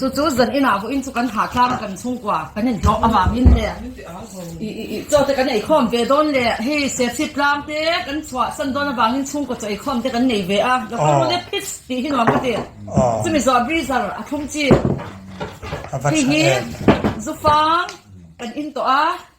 Chu chu zan inah vawiin chu kan hahtlang kan chhungkua kan inhlawh avangin leh chaw te kan eikhawm ve dawn leh hei serchhip tlang te kan chhuahsan dawn avangin chhungkaw chaw eikhawm te kan nei ve a. Doctor Mule Phipps tih hi nuam ka ti. Chumi zawh a Breezer a thlum chi. Hei hi zufang kan in tawh a.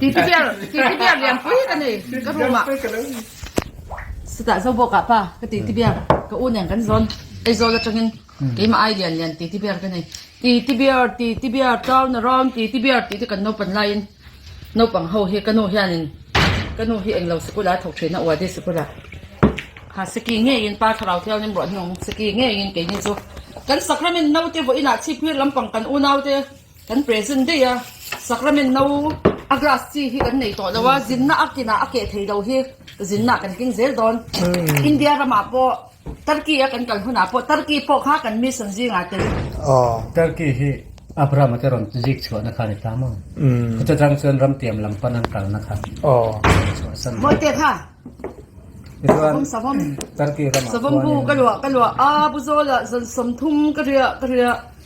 Titi ber, titi ber lianpui ka nei ka room ah. Seta zo bawk ah pa ka titi ber ka u nen kan zawn Aizawl atangin keimah ai lian lian titi ber ka nei. Titi ber, titi ber tauna rawn titi ber tih te kan naupan laiin naupang ho hi ka nu hianin ka nu hi englo sikul a thawk thin a uadi sikul ah ha saki ngeiin pa thlarau te awnin ruah hnung saki ngeiin keini chu kan sacrament no te vawiin ah chhip hmir lampang kan unaute Kan present daih a sacrament no a grass chi hi kan nei tawh lo a zinna a kinah a keh theilo hi zinna kan keng zel dawn India ramah pawh Turkey a kan kal hunah pawh Turkey pawh kha kan mission zingah te Turkey hi Abraham a te rawn zik chhuahna kha a ni ta maw chutang chuan ram tiam lam pan an kalna kha mawi te kha sawm sawm Turkey ramah chuan sawm bu ka luah ka luah a bu zawlah zawn sawm thum ka riah ka riah.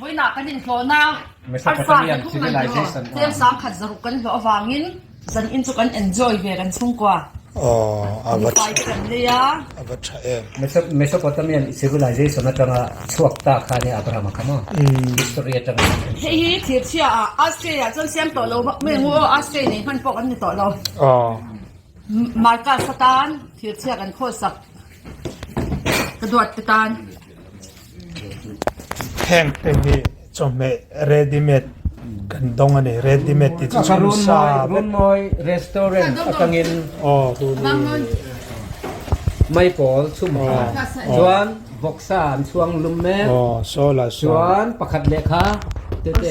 Vawiinah kan inhlawhna Arfahna thungngaihtuah tlem sangkhat zaruk kan hlawh avangin zan in chu kan enjoy ve kan chhungkua mipai te kan lei a. Mesopotamian civilization atanga chhuak ta khan hi Abraham a kham a, history atang hian kan hre. Hei hi thirchhia a, Australia chuan siam tawh lo vak mai angu aw, Australia nei hman pawh kan ni tawh lo. Marcus a tan thirchhia kan khawsak ka duat te tan. Heng te hi chawhmeh ready made kan dawng a ni ready made tih chu chu sa runmawi restaurant atangin aw tuni mai pawl chhum kha chuan vawksa an chhuang lum mek aw saw la saw chuan pakhat leh kha tete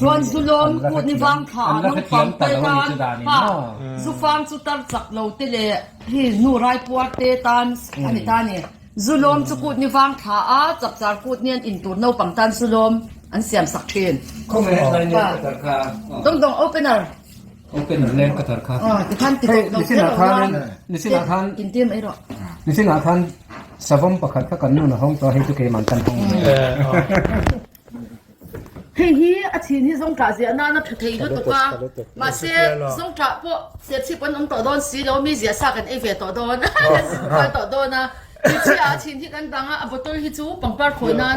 Chuan Zulawm kut ni vang thla ah naupang pawl tan hna Zufang cu tar chak lo te le hi nu raipuar te tan a ni ta ni. Zulawm cu kut ni vang thla ah chapchar kut ni an in tur naupang tan Zulawm an siam sak thin. Dongdong opener ti khan ti kauh lo zel lo ruang in tir mai rawh. Nisin ah khan savam pakhat kha kan nun a hawng chuan hei chu keiman kan hawng. Hei hi a chhin hi zawngtah ziah nana tha thei lutuk a, mahse zawngtah pawh serchhip an awm tawh dawn si lo, mi ziah sa kan ei ve tawh dawn a kan zing kual tawh dawn a, Hrichhia a chhin hi kan dang a, a bottle hi chu pangpar khawi nan.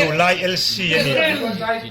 Duhlai LC a ni.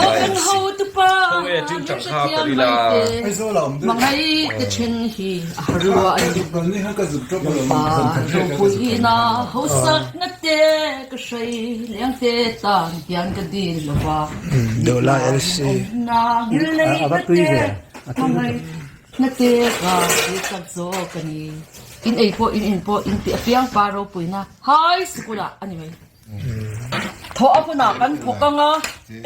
Aw kan ho tupa han hre thiam mai te hmangaih te then hi a ha ruah a ni pa ropui ina hausak na te ka hrai leng te tan hian ka din lo va nihna awm na ngil lei na te hmangaih na te ka zir tak zawk a ni in ei pawh in in pawh in ti afiang pa ropui na high school ah a ni mai. Thawh a hun ah kan thawk ang a,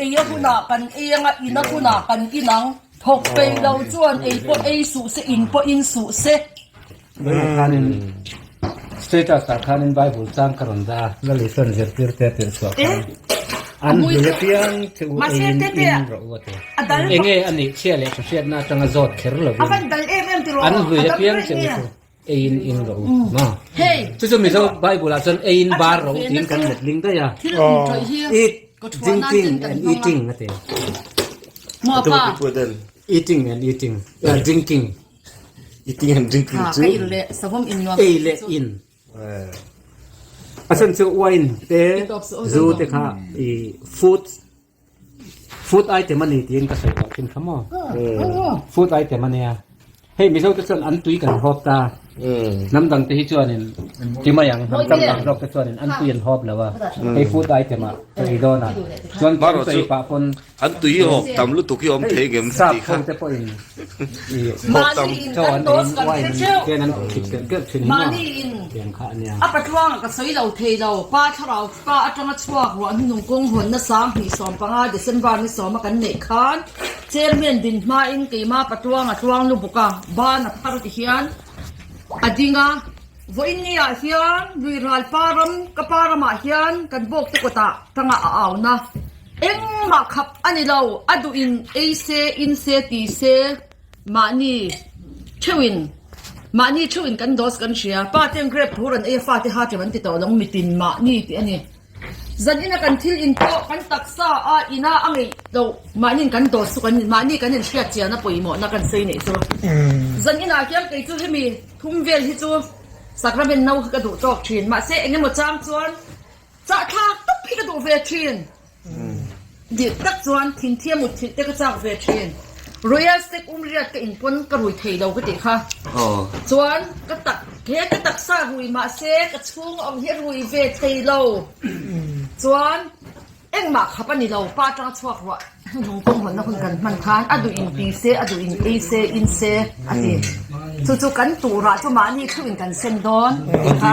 ei a hun ah kan ei ang a, in a hun ah kan in ang. Thawk pei lo chuan ei pawh ei suh se, in pawh in suh se. Tunah khanin status ah khanin Bible chang ka rawn da a. Lali chuan zirtir te a tirh chhuah khan an hmui a piang che u ei in in rawh u a ti. Enge a nih chhia leh tha hriatna atanga zawt kher lovin an hmui a piang che u chu. Eiin in roh ma. Chu chu mizo Bible ah chuan eiin bar roh tiin kan let ding daih a. Eat, drinking and eating a ti. Eating and eating, ah drinking. Eating and drinking chu ei leh in. A then chu wine te, zu te kha ih food. Food item a ni tiin ka sawi tawh chin kha maw? Food item a nia. Hei Mizo te chuan an tui kan hawp ta. Hnam dang te hi chuanin ti mai ang, hnam tam tak zawk te chuanin an tui an hawp lo a. Hei food item ah ka ei dawn a. Chuan kan sawi chu pah pawn an tui hi hawp tam lutuk hi awm thei ngem ka ti kha. Hei sap ho te pawhin hawp tam chau an nei in uain an ken an thik tirh tirh thin hi maw? Tiang kha a nia. Pa atanga chhuak ruahna nung kawng hawn nasa hnih sawm panga December ni sawma kan neih khan Chairman din hmain keima Patuanga tluang lubuka ban a phar tihian a ding a, Vawiinni ah hian Luihral pa ram ka pa ramah hian kan bawkte kawtah tanga a auna engmah khap a nilo a duhin ei se in se ti se. Mahni theuhin mahni theuhin kan dose kan hria. Pa te grape tur an ei a fate ha tlem an ti tawh lawng mitin mahni tih a ni. Zan ina kan thil in pawh kan taksa a ina a ngeih loh mahniin kan dose chu kan mahni kan in hriat chian a pawimawhna kan sawi neih chu. Zan inah hian kei chu hemi thum vel hi chu sacrament no hi ka duh tawk thin mahse engemaw chang chuan chahthlak tak hi ka duh ve thin. Dirh tak chuan thing thia mut thilh te ka chak ve thin. Royal Steak um riat ka in pawn ka rui thei lo ka tih kha. Chuan ka tak he ka taksa rui mah se ka chhung awm hi rui ve thei lo. Chuan engmah khap a ni lo pa tang a chhuak ruah he lung kawng hawnna hun kan hman khan a duh in pi se a duh in ei se in se a ti. Chu chu kan turah chu mahni thluh in kan sen dawn a ti kha.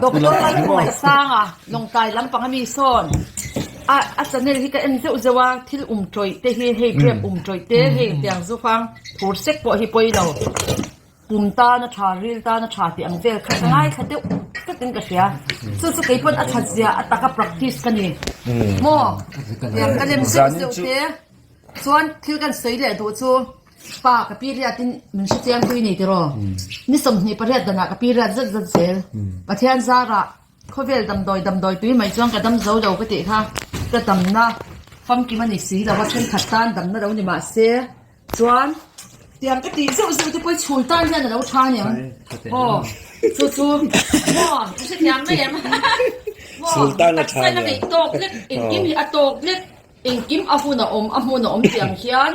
Doctor Thumaisanga Lawngkai lampang ami sawn a channel hi ka en zeuh zeuh a, thil um tawih te hi hei biak um tawih te hei tiang zufang phur sek pawh hi pawi lo, pum tana tha ril tana tha tih ang vel kha ka ngaithla deuh tlat in ka hria, chu chu kei pawn a thatzia a taka practice ka ni maw, ka lem zeuh zeuh te chuan thil kan sawi leh duh chu. Pa, ka pi riatin min hre chiang pui ni tiraw? Ni sawmhnih pariat danah ka pi riat zet zet zel. Pathian zarah khawvel damdawi damdawi tui mai chuan ka dam zo lo ka tih kha ka damna famkim a ni si lo a, thenkhat tan damna lo ni mahse chuan tiang ka tih zeuh zeuh te pawh i chhul tan hian a lo tha aniang. Aw, chu chu maw ka hre chiang mai em? Maw taksa in a ngeih tawk lek, engkim hi a tawk lek, engkim a hun a awm a hmun a awm tiang hian.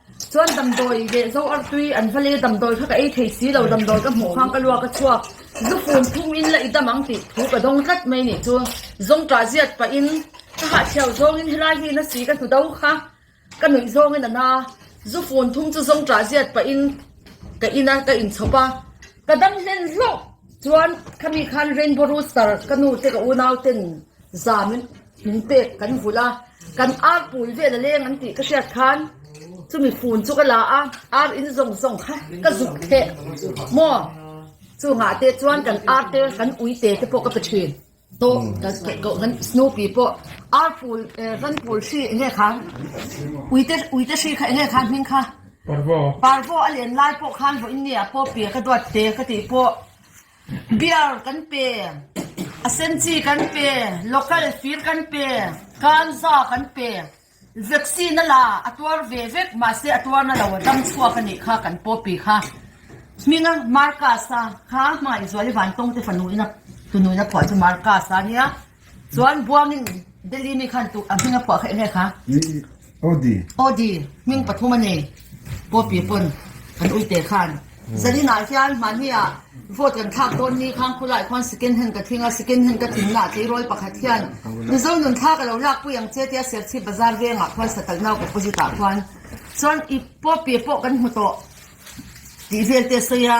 Chuan damdawi leh zo arh tui an va le, damdawi kha ka ei thei si lo, damdawi ka hmuh khang ka lua ka chhuak, zu pum phum in la i dam ang tih thu ka dawng tlat mai nih chu zawngṭah ziat pah in ka hah chhiau zawng in helai hi na si ka hnu do kha ka nuih zawng in a na zu fun thum chu zawngṭah ziat pah in ka in a ka in chhawp a ka dam hlen hlauh chuan khami khan rainbow rooster ka nu te ka unau ten zan min pek kan vulh a kan ar pui vel a leng an tih ka hriat khan chumi fun chu ka la a ar in zawng zawng kha ka zuk theh maw chungah te chuan kan ar te kan ui te te pawh ka pe thin tawh kan snupi pawh ar pul eh van pul hri enge kha ui te ui te hri kha enge kha hming kha parvo a len lai pawh khan vawiin nge a pawh piah ka duat te ka tih pawh Beer kan pe, a sen chi kan pe, local fir kan pe, ganza kan pe, vaccine a la a tuar ve vek mahse a tuar na lo a dam chhuak a nih kha kan pawh pi kha hming a Marcus a kha hmangaih zual i vantawng te fanu ina tunun a phuah chu Marcus a nia. Chuan Buangin Delhi mi khan a hming a phuah khaih hle kha. Odi. Odi, hming pathum a nei. Poppy pawn kan uite khan. Zarina hian mahnia vote kan thlak dawn mi khan khulai khawn second hand ka thing a, second hand ka thing naah tleirawl pakhat hian Mizo nun thla ka lo lak pui ang che tia Serchhip bazar vengah khawn Satalnau opposite ah khawn chuan i Poppy pawh kan hmu tawh tih vel te sawi a.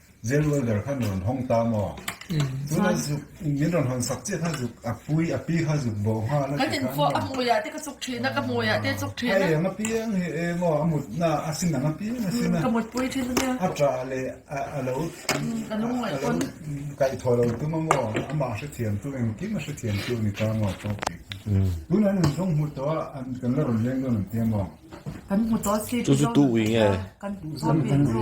Zen welder kha min rawn hawng ta maw? Tun a zuk min rawn hawn sak chiah kha zuk a pui a pi kha zuk bawh nghal a ti kha an rawn. Kan inkhawh a hmui ah te ka chuk thin a ka hmui ah te chuk thin a. Ka eng apiang hi e maw a mut na a sin ang apiang a sin a. Ka mut pui thin ania. A tah leh a a lo a lo kaih thaw lo tum a maw amah hrethiam tu engkim a hrethiam tu a ni ta maw tawh tih kha chu. Tun an inzawng hmu tawh a an kan la rawn leng dawn ang tia maw? Kan hmu tawh a si. Tu chu tuh ui nge. Kan tuh zawk ve chu.